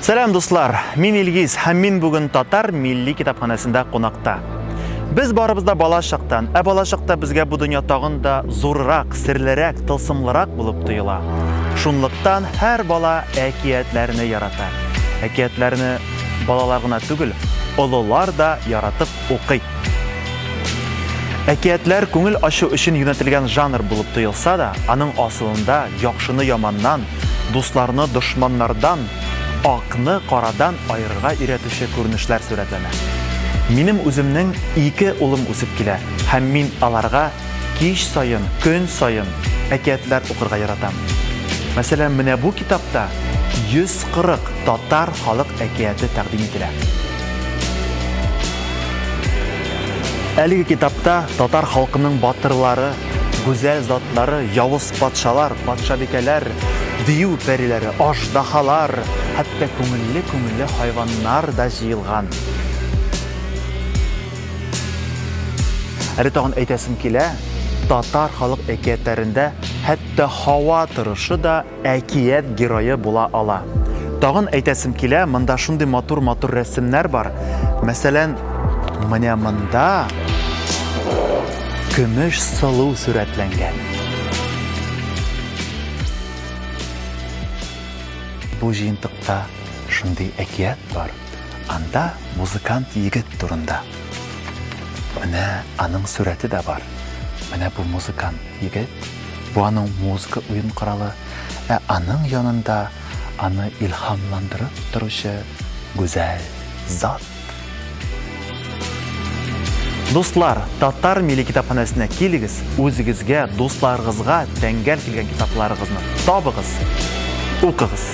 Сәлам дуслар, мин Илгиз һәм мин бүген татар милли китапханәсендә кунакта. Без барыбыз да бала чактан, ә бала чакта безгә бу дөнья тагын да зуррак, серлерәк, тылсымлырак булып тоела. Шунлыктан һәр бала әкиятләрне ярата. Әкиятләрне Балалар гына түгел, олылар да яратып укый. Әкиятләр күңел ачу өчен юнәтелгән жанр булып тоелса да, аның асылында яхшыны яманнан, дусларны дошманнардан, акны карадан аерырга өйрәтүче күренешләр сурәтләнә. Минем үземнең ике улым үсеп килә, һәм мин аларга кич саен, көн саен әкиятләр укырга яратам. Мәсәлән, менә бу китапта 140 татар халык әкияте тәкъдим ителә. Әлеге китапта татар халкының батырлары, гүзәл затлары, явыз патшалар, патшабикәләр, дию пәриләре, аждаһалар, хәтта күңелле-күңелле хайваннар да җыелган. Әле тагын әйтәсем килә, татар халык әкиятләрендә хәтта һава торышы да әкият герое була ала. Тагын әйтәсем килә, монда шундый матур-матур рәсемнәр бар. Мәсәлән, менә монда көмеш сылу сурәтләнгән. Бу җыентыкта шундый әкият бар. Анда музыкант егет турында. Менә аның сурәте дә бар. Менә бу музыкант егет. Бу аның музыка уен коралы, ә аның янында аны илһамландырып торучы гүзәл зат. Дуслар, Татар милли китапханәсенә килегез, үзегезгә, дусларыгызга тәңгәл килгән китапларыгызны табыгыз, укыгыз.